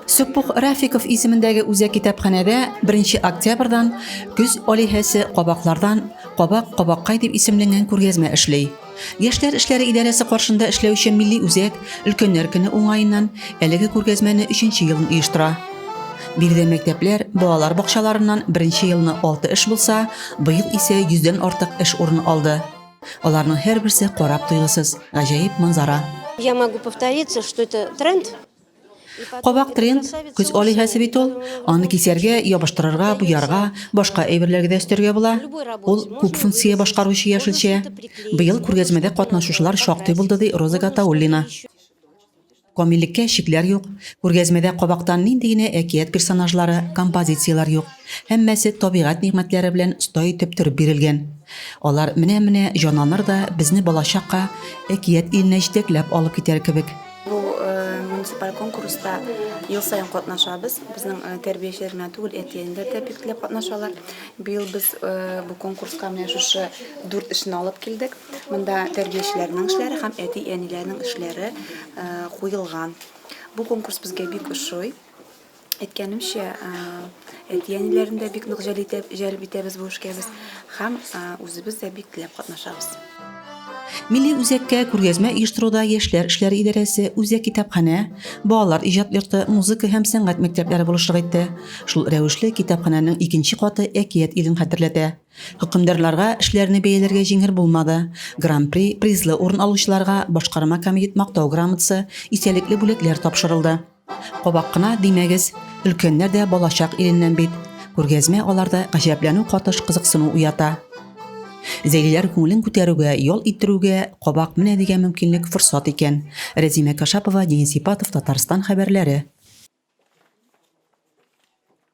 Сөппух Рафиков исемендәге үзәк китапханәдә 1 октябрьдан көз алиһәсе кабаклардан кабак кабаккай дип исемленгән күргәзмә эшли. Яшьләр эшләре идарәсе каршында эшләүче милли үзәк өлкәннәр көне уңаеннан әлеге күргәзмәне 3 елын оештыра. Биредә мәктәпләр, балалар бакчаларыннан беренче елны 6 эш булса, быел исә 100дән артык эш урын алды. Аларның һәрберсе карап туйгысыз, гаҗәеп манзара. Я могу повториться, что это тренд, Кабак тренс, күз алиһәсе бит ул. Аны кисәргә, ябыштырырга, буярга, башка әйберләргә дә өстәргә була. Ул күп функция башкаручы яшелчә. Быел күргәзмәдә катнашучылар шактый булды, ди Роза Гатауллина. Камиллеккә чикләр юк. Күргәзмәдә кабактан нинди генә әкият персонажлары, композицияләр юк. Һәммәсе табигать нигъмәтләре белән оста итеп төреп бирелгән. Алар менә-менә җанланыр да безне балачакка, әкият иленә җитәкләп алып китәр кебек. Бу э, муниципаль конкурста ел сайын катнашабыз. Безнең э, тәрбиячеләр генә түгел, әтиәниләр дә бик теләп катнашалар. Быел без э, бу конкурска менә шушы дүрт эшне алып килдек. Монда тәрбиячеләрнең эшләре һәм әти-әниләрнең эшләре куелган. Бу конкурс безгә бик ошый. әйткәнемчә, әти-әниләрен дә бик нык җәлеп итәбез бу эшкә без һәм үзебез дә бик теләп катнашабыз. Милли үзәккә күргәзмә оештыруда яшьләр эшләре идарәсе, үзәк китапханә, балалар иҗат йорты, музыка һәм сәнгать мәктәпләре булышлык итте. Шул рәвешле китапханәнең икенче каты әкият илен хәтерләтә. Хөкемдарларга эшләрне бәяләргә җиңел булмады. Гран-при, призлы урын алучыларга башкарма комитет мактау грамотасы, истәлекле бүләкләр тапшырылды. Кабак кына димәгез, өлкәннәр дә балачак иленнән бит. Күргәзмә аларда гаҗәпләнү катыш кызыксыну уята. Зәйлиләр күңелен күтәрүгә, ял иттерүгә кабак менә дигән мөмкинлек форсат икән. Рәзимә Кашапова, Денис Ипатов, Татарстан хәбәрләре.